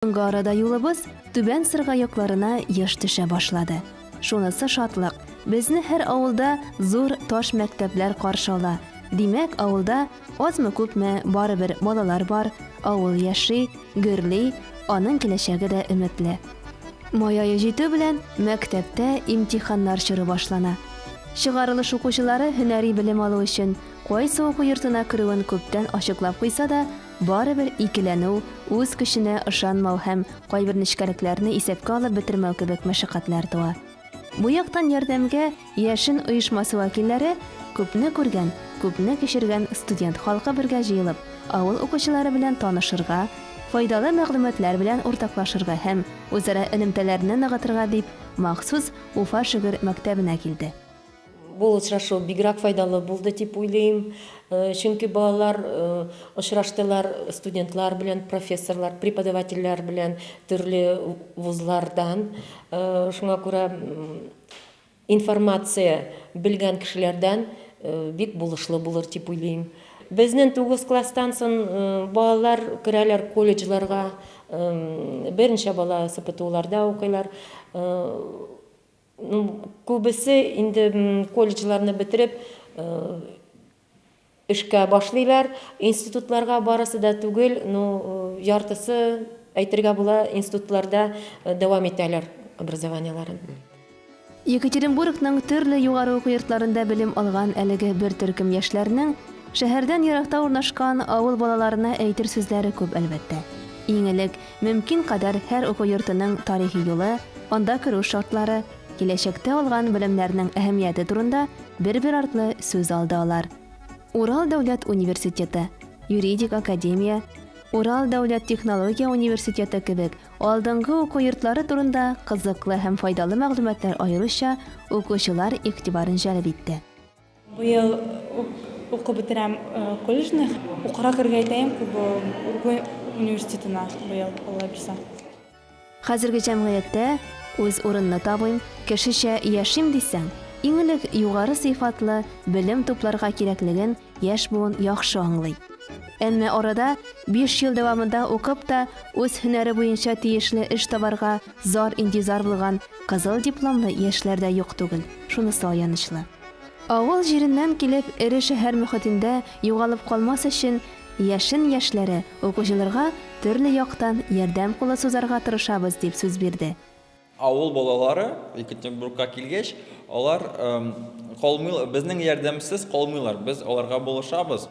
Соңгы арада юлыбыз Түбән Сырга якларына еш төшә башлады. Шунысы шатлык, безне һәр авылда зур таш мәктәпләр каршы ала. Димәк, авылда азмы-күпме барыбер балалар бар, авыл яши, гөрли, аның киләчәге дә өметле. Май ае җитү белән мәктәптә имтиханнар чоры башлана. Чыгарылыш укучылары һөнәри белем алу өчен кайсы уку йортына керүен күптән ачыклап куйса да, Барыбер икеләнү, үз көченә ышанмау һәм кайбер нечкәлекләрне исәпкә алып бетермәү кебек мәшәкатьләр туа. Бу яктан ярдәмгә Яшен оешмасы вәкилләре, күпне күргән, күпне кичергән студент халкы бергә җыелып, авыл укучылары белән танышырга, файдалы мәгълүматлар белән уртаклашырга һәм үзара элемтәләрне ныгытырга дип махсус Уфа шөгер мәктәбенә килде. Бу очрашу бигрәк файдалы булды дип уйлыйм, чөнки балалар очраштылар студентлар белән, профессорлар, преподавательләр белән төрле вузлардан. Шуңа күрә информация белгән кешеләрдән бик булышлы булыр дип уйлыйм. Безнең тугыз класстан сон балалар керәләр колледжларга, берничә бала СПТУларда укыйлар. Ну, күбесе инде колледжларны бетереп, эшкә башлыйлар. Институтларга барысы да түгел, ну, яртысы, әйтергә була, институтларда дәвам итәләр образованиеләрен. Екатеринбургның төрле югары уку йортларында белем алган әлеге бер төркем яшьләрнең шәһәрдән еракта урнашкан авыл балаларына әйтер сүзләре күп, әлбәттә. Иң элек, Мөмкин кадәр һәр уку йортының тарихи юлы, анда керү шартлары, киләчәктә алган белемнәрнең әһәмияте турында бер-бер артлы сүз алды алар. Урал дәүләт университеты, юридик академия, Урал дәүләт технология университеты кебек алдынгы уку йортлары турында кызыклы һәм файдалы мәгълүматлар аеруча укучылар игътибарын җәлеп итте. Быел ук укып бетерәм колледжны. Укырга керергә итәем Куба Ургуй университетына быел, Алла бирса. Хәзерге җәмгыятьтә үз урынны табыйм, кешечә яшим дисәң, иң элек югары сыйфатлы белем тупларга кирәклеген яшь буын яхшы аңлый. Әмма арада биш ел дәвамында укып та, үз һөнәре буенча тиешле эш табарга зар-интизар булган кызыл дипломлы яшьләр дә юк түгел, шунысы аянычлы. Авыл җиреннән килеп, эре шәһәр мөхетендә югалып калмас өчен, Яшен яшьләре укучылырга төрле яктан ярдәм кулы сузарга тырышабыз, дип сүз бирде. Авыл балалары Екатеринбургка килгәч, алар калмыйлар, безнең ярдәмсез калмыйлар, без аларга булышабыз.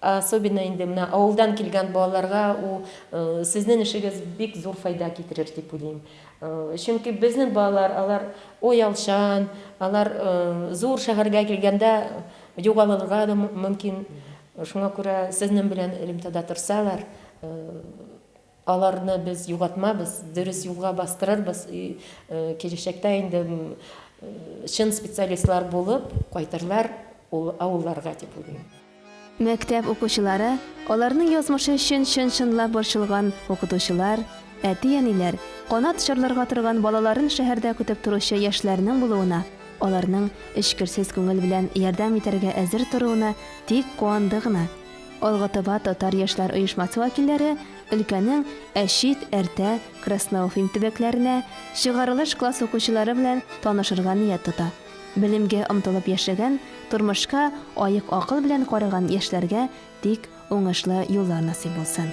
Особенно инде менә авылдан килгән балаларга у сезнен эшегез бик зур файда китерер дип уйлыйм. Чөнки безнен балалар алар оялчан, алар зур шәһәргә килгәндә югалылырга да мөмкин. Шуңа күрә сезнен белән элемтәдә торсалар, Аларны без югатмабыз, дөрес юлга бастырырбыз, и киләчәктә инде чын специалистлар булып кайтырлар ул авылларга дип уйлыйм. Мәктәп укучылары, аларның язмышы өчен чын-чынлап борчылган укытучылар, әти-әниләр, канат чарларга торган балаларын шәһәрдә көтеп торучы яшьләрнең булуына, аларның эчкерсез күңел белән ярдәм итәргә әзер торуына тик куанды гына. Алга-Таба татар яшьләр оешмасы вәкилләре өлкәнең Әчит, Әртә, Красноуфим төбәкләренә чыгарылыш класс укучылары белән танышырга ният тота. Белемгә омтылып яшәгән, тормышка аек акыл белән караган яшьләргә тик уңышлы юллар насыйп булсын!